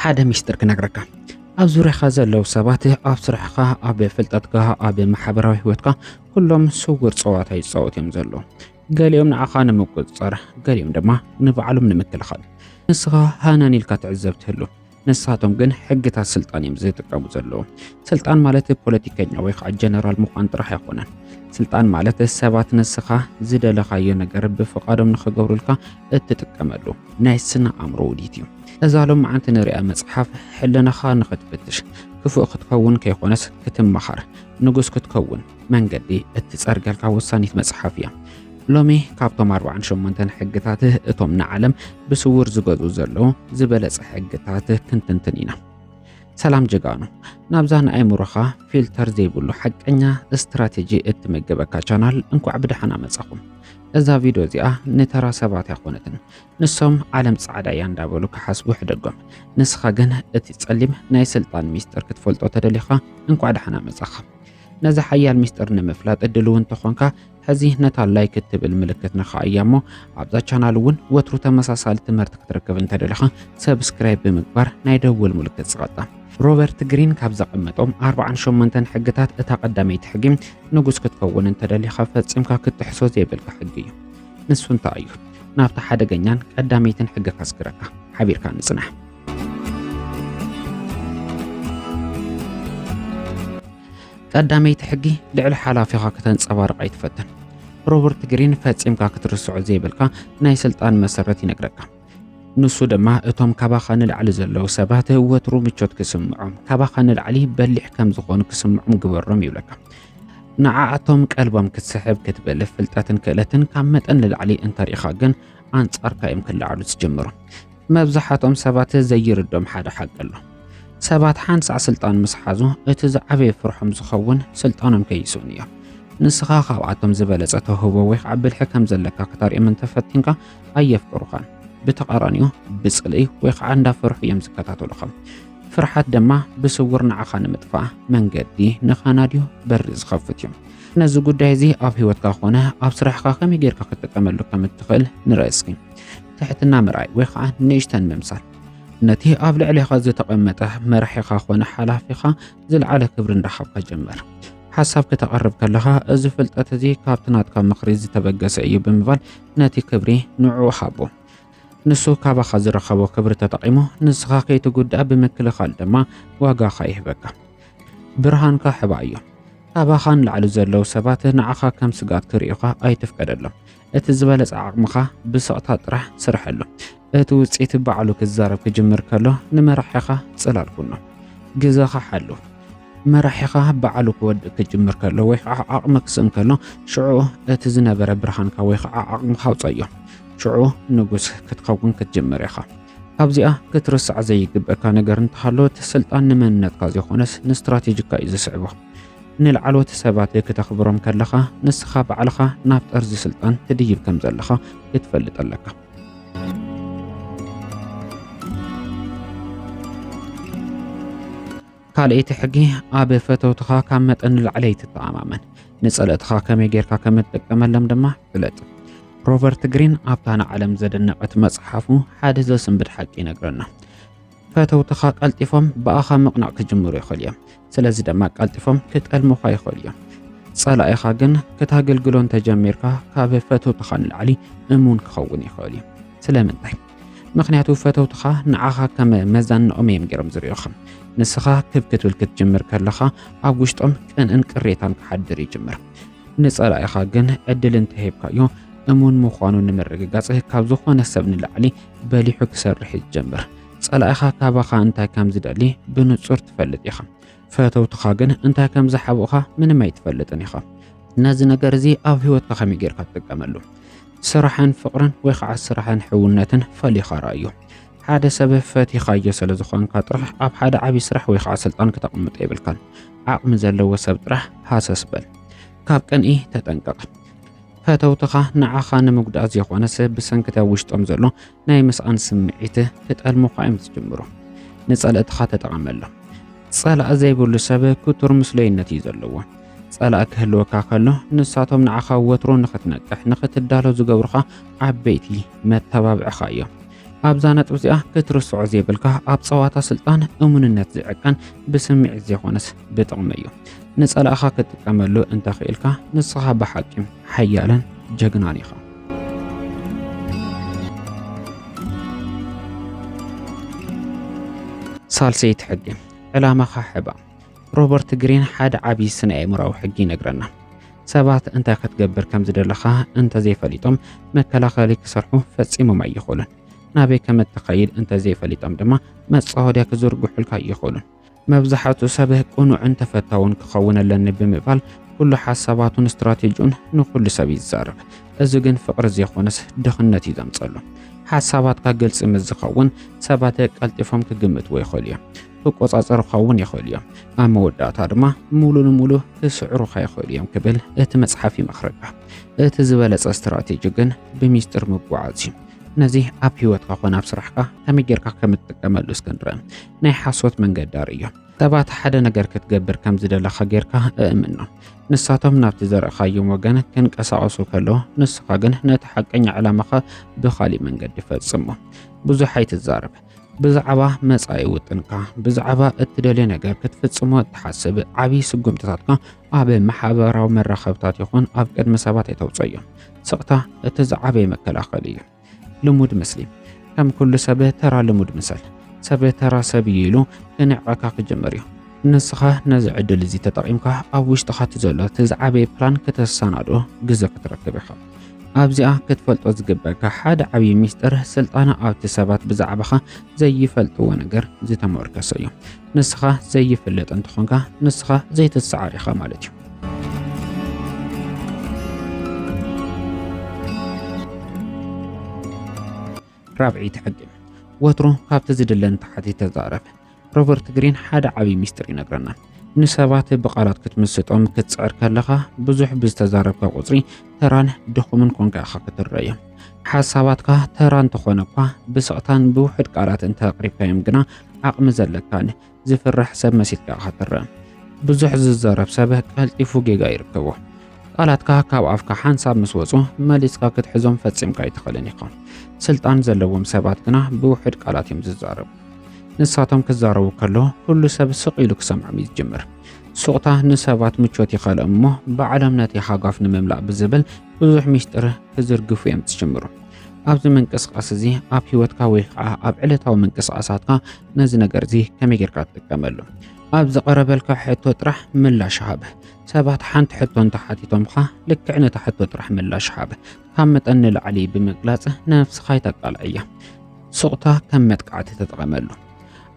ሓደ ሚስጥር ክነግረካ ኣብ ዙርያኻ ዘለዉ ሰባት ኣብ ስራሕኻ ኣብ ፍልጠትካ ኣብ ማሕበራዊ ህይወትካ ኩሎም ስውር ፀዋታ ይፃወት እዮም ዘሎ ገሊኦም ንዓኻ ንምቁፅፃር ገሊኦም ድማ ንባዕሎም ንምክልኻል ንስኻ ሃናን ኢልካ ትዕዘብ ትህሉ ንሳቶም ግን ሕግታት ስልጣን እዮም ዝጥቀሙ ዘለዉ። ስልጣን ማለት ፖለቲከኛ ወይ ከዓ ጀነራል ምዃን ጥራሕ ኣይኮነን። ስልጣን ማለት ሰባት ንስኻ ዝደለኻዮ ነገር ብፍቓዶም ንኽገብሩልካ እትጥቀመሉ ናይ ስነ ኣእምሮ ውዲት እዩ። እዛ ሎመዓንቲ ንሪኣ መፅሓፍ ሕልናኻ ንኽትፍትሽ፣ ክፉእ ክትከውን ከይኮነስ ክትመሃር፣ ንጉስ ክትከውን፣ መንገዲ እትጸርገልካ ወሳኒት መጽሓፍ እያ። ሎሚ ካብቶም 48 ሕግታት እቶም ንዓለም ብስውር ዝገዙ ዘለዉ ዝበለጸ ሕግታት ክንትንትን ኢና። ሰላም ጀጋኑ፣ ናብዛ ንኣእምሮኻ ፊልተር ዘይብሉ ሓቀኛ ስትራቴጂ እትምገበካ ቻናል እንኳዕ ብደሓና መጻኹም። እዛ ቪድዮ እዚኣ ንተራ ሰባት ኣይኮነትን። ንሶም ዓለም ጻዕዳ እያ እንዳበሉ ክሓስቡ ሕደጎም። ንስኻ ግን እቲ ጸሊም ናይ ስልጣን ሚስጥር ክትፈልጦ ተደሊኻ እንኳዕ ደሓና መጻኻ። ነዚ ሓያል ሚስጥር ንምፍላጥ እድል እውን ተኾንካ ሕዚ ነታ ላይክ እትብል ምልክት ነኻ እያ እሞ ኣብዛ ቻናል እውን ወትሩ ተመሳሳሊ ትምህርቲ ክትረክብ እንተደለኻ ሰብስክራይብ ብምግባር ናይ ደውል ምልክት ስቐጣ ሮበርት ግሪን ካብ ዘቐመጦም 48 ሕግታት እታ ቀዳመይቲ ሕጊ ንጉስ ክትከውን እንተደሊኻ ፈጺምካ ክትጥሕሶ ዘይብልካ ሕጊ እዩ ንሱ እንታይ እዩ ናብታ ሓደገኛን ቀዳመይትን ሕጊ ከስግረካ ሓቢርካ ንጽናሕ ቀዳመይቲ ሕጊ ልዕሊ ሓላፊኻ ከተንጸባርቕ ኣይትፈትን። ሮበርት ግሪን ፈጺምካ ክትርስዖ ዘይብልካ ናይ ስልጣን መሰረት ይነግረካ። ንሱ ድማ እቶም ካባኻ ንላዕሊ ዘለዉ ሰባት ወትሩ ምቾት ክስምዖም ካባኻ ንላዕሊ በሊሕ ከም ዝኾኑ ክስምዖም ግበሮም ይብለካ። ንዓኣቶም ቀልቦም ክትስሕብ ክትብል ፍልጠትን ክእለትን ካብ መጠን ንላዕሊ እንተርኢኻ ግን ኣንጻርካ እዮም ክለዓሉ ዝጅምሩ። መብዛሕትኦም ሰባት ዘይርድኦም ሓደ ሓቂ ኣሎ። ሰባት ሓንሳዕ ስልጣን ምስ ሓዙ እቲ ዝዓበየ ፍርሖም ዝኸውን ስልጣኖም ከይስእኑ እዮም። ንስኻ ካብኣቶም ዝበለጸ ተውህቦ ወይ ከዓ ብልሒ ከም ዘለካ ክተርእዮም እንተፈቲንካ ኣየፍቅሩኻን። ብተቓራኒኡ ብጽልኢ ወይ ከዓ እንዳፈርሑ እዮም ዝከታተሉኻ። ፍርሓት ድማ ብስውር ንዓኻ ንምጥፋእ መንገዲ ንኻናድዩ በሪ ዝኸፍት እዩ። ነዚ ጉዳይ እዚ ኣብ ህይወትካ ኮነ ኣብ ስራሕካ ከመይ ጌርካ ክትጥቀመሉ ከም እትኽእል ንርኢ እስኪ። ትሕትና ምርኣይ ወይ ከዓ ንእሽተን ምምሳል ነቲ ኣብ ልዕሌኻ ዝተቐመጠ መራሒኻ ኮነ ሓላፊኻ ዝለዓለ ክብሪ እንዳሃብካ ጀመር። ሓሳብ ከተቐርብ ከለኻ እዚ ፍልጠት እዚ ካብቲ ናትካ ምኽሪ ዝተበገሰ እዩ ብምባል ነቲ ክብሪ ንዕኡ ሃቦ። ንሱ ካባኻ ዝረኸቦ ክብሪ ተጠቒሙ ንስኻ ከይትጉዳእ ብምክልኻል ድማ ዋጋኻ ይህበካ። ብርሃንካ ሕባ እዮም። ካባኻ ንላዕሊ ዘለዉ ሰባት ንዓኻ ከም ስጋት ክርእዩኻ ኣይትፍቀደሎም። እቲ ዝበለጸ ዓቕምኻ ብስቕታ ጥራሕ ስርሐሉ። እቲ ውጽኢት ባዕሉ ክዛረብ ክጅምር ከሎ ንመራሒኻ ጽላል ኩኖ። ግዘኻ ሓሉ። መራሒኻ ባዕሉ ክወድእ ክጅምር ከሎ ወይ ከዓ ዓቕሚ ክስእን ከሎ ሽዑ እቲ ዝነበረ ብርሃንካ ወይ ከዓ ዓቕምኻ ኣውፀዮ። ሽዑ ንጉስ ክትኸውን ክትጅምር ኢኻ። ካብዚኣ ክትርሳዕ ዘይግበካ ነገር እንተሃሎ እቲ ስልጣን ንመንነትካ ዘይኮነስ ንስትራቴጂካ እዩ ዝስዕቦ። ንላዕለዎት ሰባት ክተኽብሮም ከለኻ ንስኻ ባዕልኻ ናብ ጠርዚ ስልጣን ትድይብ ከም ዘለኻ ክትፈልጥ ኣለካ። ካልኣይቲ ሕጊ ኣብ ፈተውትኻ ካብ መጠን ንላዕሊ ኣይትተኣማመን፣ ንጸለእትኻ ከመይ ጌርካ ከም እትጥቀመሎም ድማ ፍለጥ። ሮበርት ግሪን ኣብታ ንዓለም ዘደነቐት መጽሓፉ ሓደ ዘስንብድ ሓቂ ይነግረና። ፈተውትኻ ቀልጢፎም ብኣኻ ምቕናዕ ክጅምሩ ይኽእሉ እዮም። ስለዚ ድማ ቀልጢፎም ክጠልሙኻ ይኽእሉ እዮም። ጸላኢኻ ግን ክታገልግሎ እንተጀሚርካ ካብ ፈተውትኻ ንላዕሊ እሙን ክኸውን ይኽእል እዩ። ስለምንታይ? ምክንያቱ ፈተውትኻ ንዓኻ ከም መዛንኦም እዮም ገይሮም ዝሪኦኻ። ንስኻ ክብ ክትብል ክትጅምር ከለኻ ኣብ ውሽጦም ቅንእን ቅሬታን ክሓድር ይጅምር። ንጸላኢኻ ግን ዕድል እንተሂብካዮ እሙን ምዃኑ ንምርግጋጽ ካብ ዝኾነ ሰብ ንላዕሊ በሊሑ ክሰርሕ እዩ ዝጀምር። ጸላኢኻ ካባኻ እንታይ ከም ዝደሊ ብንጹር ትፈልጥ ኢኻ። ፈተውትኻ ግን እንታይ ከም ዝሓብኡኻ ምንም ኣይትፈልጥን ኢኻ። ነዚ ነገር እዚ ኣብ ህይወትካ ከመይ ጌርካ ትጥቀመሉ? ስራሕን ፍቕርን ወይ ከዓ ስራሕን ሕውነትን ፈሊኻ ረኣዮ። ሓደ ሰብ ፈቲኻዮ ስለ ዝኾንካ ጥራሕ ኣብ ሓደ ዓብዪ ስራሕ ወይ ከዓ ስልጣን ክተቕምጦ የብልካን። ዓቕሚ ዘለዎ ሰብ ጥራሕ ሃሰስ በል። ካብ ቅንኢ ተጠንቀቕ። ፈተውትኻ ንዓኻ ንምጉዳእ ዘይኾነስ ብሰንክቲ ኣብ ውሽጦም ዘሎ ናይ ምስኣን ስምዒት ክጠልሙኻ እዮም ዝጅምሩ። ንጸለእትኻ ተጠቐመሎም። ጸላእ ዘይብሉ ሰብ ክቱር ምስሉይነት እዩ ዘለዎ። ጸላእ ክህልወካ ከሎ ንሳቶም ንዓኻ ወትሩ ንኽትነቅሕ ንኽትዳሎ ዝገብሩኻ ዓበይቲ መተባብዕኻ እዮም። ኣብዛ ነጥቢ እዚኣ ክትርስዖ ዘይብልካ ኣብ ጸዋታ ስልጣን እሙንነት ዝዕቀን ብስምዒት ዘይኮነስ ብጥቕሚ እዩ። ንጸላእኻ ክትጥቀመሉ እንተኽኢልካ ንስኻ ብሓቂ ሓያልን ጀግናን ኢኻ። ሳልሰይቲ ሕጊ ዕላማኻ ሕባ ሮበርት ግሪን ሓደ ዓብዪ ስነ ኣእምራዊ ሕጊ ይነግረና። ሰባት እንታይ ክትገብር ከም ዝደለኻ እንተዘይፈሊጦም መከላኸሊ ክሰርሑ ፈጺሞም ኣይኽእሉን። ናበይ ከም እትኸይድ እንተዘይፈሊጦም ድማ መጻወድያ ክዝርግሑልካ ኣይኽእሉን። መብዛሕቱ ሰብ ቅኑዕን ተፈታውን ክኸውን ኣለኒ ብምባል ኩሉ ሓሳባቱን ስትራቴጂኡን ንኹሉ ሰብ እዩ ዝዛረብ። እዚ ግን ፍቕሪ ዘይኮነስ ድኽነት እዩ ዘምጸሉ። ሓሳባትካ ግልጺ ምስ ዝኸውን ሰባት ቀልጢፎም ክግምትዎ ይኽእሉ እዮም። ክቆጻጸሩ ክኸውን ይኽእሉ እዮም፣ ኣብ መወዳእታ ድማ ሙሉ ንሙሉ ክስዕሩኻ ይኽእሉ እዮም ክብል እቲ መጽሓፍ ይመኽረካ። እቲ ዝበለጸ ስትራቴጂ ግን ብሚስጥር ምጓዓዝ እዩ። ነዚ ኣብ ህይወትካ ኮነ ኣብ ስራሕካ ከመይ ጌርካ ከም እትጥቀመሉ እስከ ንርአ። ናይ ሓሶት መንገዲ ኣርእዮ። ሰባት ሓደ ነገር ክትገብር ከም ዝደለኻ ጌርካ እእምኖ። ንሳቶም ናብቲ ዘርእኻዮም ወገን ክንቀሳቐሱ ከሎ፣ ንስኻ ግን ነቲ ሓቀኛ ዕላማኻ ብኻሊእ መንገዲ ፈጽሞ። ብዙሕ ኣይትዛረብ። ብዛዕባ መጻኢ ውጥንካ፣ ብዛዕባ እትደልዮ ነገር ክትፍጽሞ እትሓስብ ዓቢ ስጉምትታትካ ኣብ ማሕበራዊ መራኸብታት ይኹን ኣብ ቅድሚ ሰባት ኣይተውጽኦ እዮም። ስቕታ እቲ ዝዓበየ መከላኸሊ እዩ። ልሙድ ምስሊ ከም ኩሉ ሰብ ተራ ልሙድ ምሰል ሰብ ተራ ሰብ እዩ ኢሉ ክንዕቐካ ክጅምር እዩ። ንስኻ ነዚ ዕድል እዚ ተጠቒምካ ኣብ ውሽጥኻ እቲ ዘሎ እቲ ዝዓበየ ፕላን ከተሰናዶ ግዘ ክትረክብ ኢኻ። ኣብዚኣ ክትፈልጦ ዝግበካ ሓደ ዓብዪ ሚስጥር ስልጣነ ኣብቲ ሰባት ብዛዕባኻ ዘይፈልጥዎ ነገር ዝተመርኮሰ እዩ። ንስኻ ዘይፍለጥ እንተኾንካ ንስኻ ዘይትሰዓር ኢኻ ማለት እዩ። ራብዒ ተሐጊም ወትሮ ካብቲ ዝድለ ንታሕቲ ተዛረብ። ሮበርት ግሪን ሓደ ዓብዪ ሚስጢር ይነግረና። ንሰባት ብቓላት ክትምስጦም ክትጽዕር ከለኻ ብዙሕ ብዝተዛረብካ ቁጽሪ ተራን ድኹምን ኮንካ ኢኻ ክትረዮ። ሓሳባትካ ተራ እንተኾነ እኳ ብስቕታን ብውሑድ ቃላት እንተቕሪብካዮም ግና ዓቕሚ ዘለካን ዝፍራሕ ሰብ መሲልካ ኢኻ ትረአ። ብዙሕ ዝዛረብ ሰብ ቀልጢፉ ጌጋ ይርከቦ። ቃላትካ ካብ ኣፍካ ሓንሳብ ምስ ወጹ መሊስካ ክትሕዞም ፈጺምካ ኣይትኽእልን ኢኻ። ስልጣን ዘለዎም ሰባት ግና ብውሕድ ቃላት እዮም ዝዛረቡ። ንሳቶም ክዛረቡ ከሎ ኩሉ ሰብ ስቕ ኢሉ ክሰምዖም እዩ ዝጅምር። ሱቕታ ንሰባት ምቾት ይኸልኦም እሞ ባዕሎም ነቲ ሃጓፍ ንምምላእ ብዝብል ብዙሕ ሚስጥር ክዝርግፉ እዮም ዝጅምሩ። ኣብዚ ምንቅስቓስ እዚ ኣብ ህይወትካ ወይ ከዓ ኣብ ዕለታዊ ምንቅስቓሳትካ ነዚ ነገር እዚ ከመይ ጌርካ ትጥቀመሉ? ኣብ ዝቐረበልካ ሕቶ ጥራሕ ምላሽ ሃብ። ሰባት ሓንቲ ሕቶ እንተሓቲቶምካ ልክዕ ነታ ሕቶ ጥራሕ ምላሽ ሃብ። ካብ መጠን ንላዕሊ ብምግላጽ ነፍስኻ ይተቃልዐያ። ስቕታ ከም መጥቃዕቲ ተጠቐመሉ።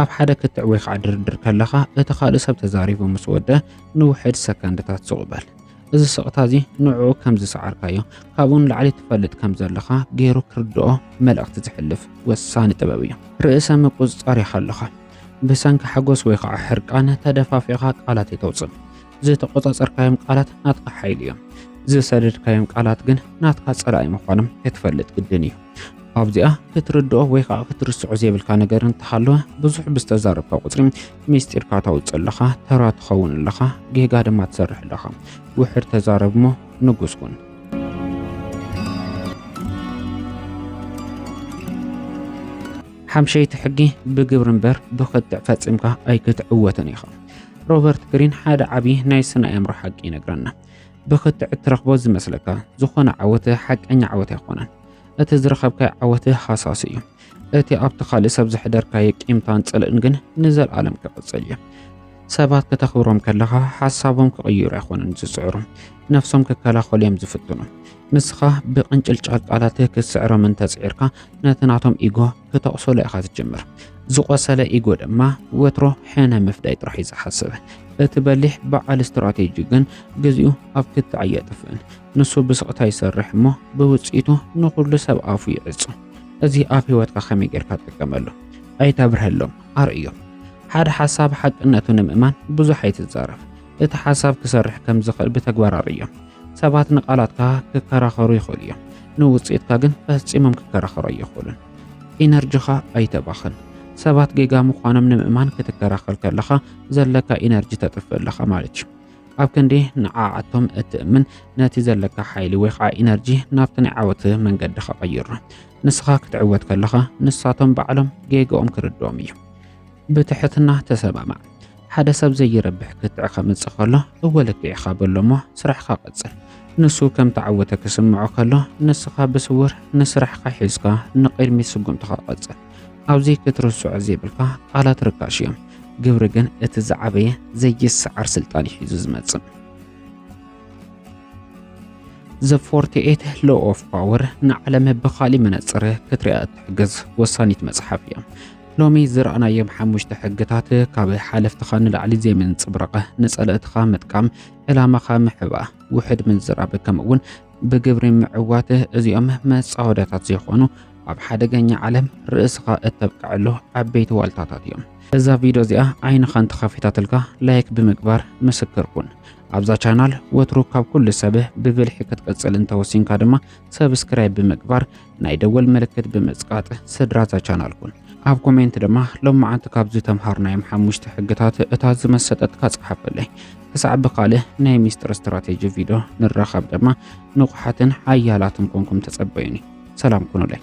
ኣብ ሓደ ክትዕ ወይ ከዓ ድርድር ከለኻ እቲ ካልእ ሰብ ተዛሪቡ ምስ ወደ ንውሕድ ሰከንድታት ስቕ በል። እዚ ስቕታ እዚ ንዕኡ ከም ዝሰዓርካዮ ካብኡ ንላዕሊ ትፈልጥ ከም ዘለኻ ገይሩ ክርድኦ መልእኽቲ ዝሕልፍ ወሳኒ ጥበብ እዩ። ርእሰ ምቁጽጻር ኢኻ ኣለኻ። ብሰንኪ ሓጎስ ወይ ከዓ ሕርቃን ተደፋፊእኻ ቃላት የተውጽእ። ዝተቆጻጸርካዮም ቃላት ናትካ ሓይሊ እዮም። ዝሰደድካዮም ቃላት ግን ናትካ ጸላኢ ምዃኖም ክትፈልጥ ግድን እዩ። ኣብዚኣ ክትርድኦ ወይ ከዓ ክትርስዖ ዘይብልካ ነገር እንተሃለወ ብዙሕ ብዝተዛረብካ ቁጽሪ ሚስጢርካ ታውፅእ ኣለኻ ተራ ትኸውን ኣለኻ ጌጋ ድማ ትሰርሕ ኣለኻ ውሕድ ተዛረብ እሞ ንጉስ ኩን ሓምሸይቲ ሕጊ ብግብሪ እምበር ብክትዕ ፈፂምካ ኣይክትዕወትን ኢኻ ሮበርት ግሪን ሓደ ዓብዪ ናይ ስነ ኣእምሮ ሓቂ ይነግረና ብክትዕ እትረኽቦ ዝመስለካ ዝኾነ ዓወት ሓቀኛ ዓወት ኣይኮነን እቲ ዝረኸብካዮ ዓወት ሃሳሲ እዩ እቲ ኣብቲ ካልእ ሰብ ዘሕደርካዮ ቂምታን ጽልእን ግን ንዘለኣለም ክቕጽል እዩ። ሰባት ከተኽብሮም ከለኻ ሓሳቦም ክቕይሩ ኣይኮኑን ዝጽዕሩ፣ ነፍሶም ክከላኸሉ እዮም ዝፍትኑ። ንስኻ ብቕንጭልጫል ቃላት ክትስዕሮም እንተጽዒርካ ነቲ ናቶም ኢጎ ክተቕሰሎ ኢኻ ትጅምር። ዝቖሰለ ኢጎ ድማ ወትሮ ሕነ ምፍዳይ ጥራሕ እዩ ዝሓስብ። እቲ በሊሕ በዓል ስትራቴጂ ግን ግዚኡ ኣብ ክትዕ ኣየጥፍእን። ንሱ ብስቕታ ይሰርሕ እሞ ብውጽኢቱ ንኹሉ ሰብ ኣፉ ይዕጹ። እዚ ኣብ ህይወትካ ከመይ ጌርካ ትጥቀመሉ? ኣይተብርሀሎም፣ ኣርእዮም። ሓደ ሓሳብ ሓቅነቱ ንምእማን ብዙሕ ኣይትዛረብ። እቲ ሓሳብ ክሰርሕ ከም ዝኽእል ብተግባር ኣርእዮም። ሰባት ንቓላትካ ክከራኸሩ ይኽእሉ እዮም፣ ንውጽኢትካ ግን ፈጺሞም ክከራኸሩ ኣይኽእሉን። ኢነርጂኻ ኣይተባኽን። ሰባት ጌጋ ምዃኖም ንምእማን ክትከራኸር ከለኻ ዘለካ ኢነርጂ ተጥፍእ ኣለኻ ማለት እዩ። ኣብ ክንዲ ንዓኣቶም እትእምን ነቲ ዘለካ ሓይሊ ወይ ከዓ ኢነርጂ ናብቲ ናይ ዓወት መንገዲ ከቐይሮ ንስኻ ክትዕወት ከለኻ ንሳቶም ባዕሎም ጌግኦም ክርድኦም እዩ ብትሕትና ተሰማማዕ ሓደ ሰብ ዘይረብሕ ክትዕ ከምጽእ ከሎ እወ ልክዕ ኢኻ በሎ እሞ ስራሕካ ቀጽል። ንሱ ከም ተዓወተ ክስምዖ ከሎ ንስኻ ብስውር ንስራሕካ ሒዝካ ንቕድሚት ስጉምትኻ ቀጽል። ኣብዚ ክትርስዖ ዘይብልካ ቃላት ርካሽ እዮም፣ ግብሪ ግን እቲ ዝዓበየ ዘይሰዓር ስልጣን እዩ ሒዙ ዝመጽእ። ዘ 48 ሎ ኦፍ ፓወር ንዓለም ብኻሊእ መነጽር ክትሪኣ እትሕግዝ ወሳኒት መጽሓፍ እያ። ሎሚ ዝረኣናዮም ሓሙሽተ ሕግታት ካብ ሓለፍትኻ ንላዕሊ ዘይምንጽብረቐ፣ ንጸለእትኻ ምጥቃም፣ ዕላማኻ ምሕባ፣ ውሕድ ምዝራብ ከምኡ'ውን ብግብሪ ምዕዋት እዚኦም መጻወዳታት ዘይኾኑ ኣብ ሓደገኛ ዓለም ርእስኻ እተብቅዐሉ ዓበይቲ ዋልታታት እዮም። እዛ ቪድዮ እዚኣ ዓይንኻ እንተኸፊታትልካ ላይክ ብምግባር ምስክር ኩን። ኣብዛ ቻናል ወትሩ ካብ ኩሉ ሰብ ብብልሒ ክትቅጽል እንተወሲንካ ድማ ሰብስክራይብ ብምግባር ናይ ደወል ምልክት ብምጽቃጥ ስድራ እዛ ቻናል ኩን። ኣብ ኮሜንት ድማ ሎማዓንቲ ካብ ዝተምሃርናዮም ሓሙሽተ ሕግታት እታ ዝመሰጠትካ ጸሓፈለይ። ክሳዕ ብካልእ ናይ ሚስጥር ስትራቴጂ ቪድዮ ንራኸብ ድማ ንቑሓትን ሓያላትን ኮንኩም ተጸበዩኒ። ሰላም ኩኑለይ።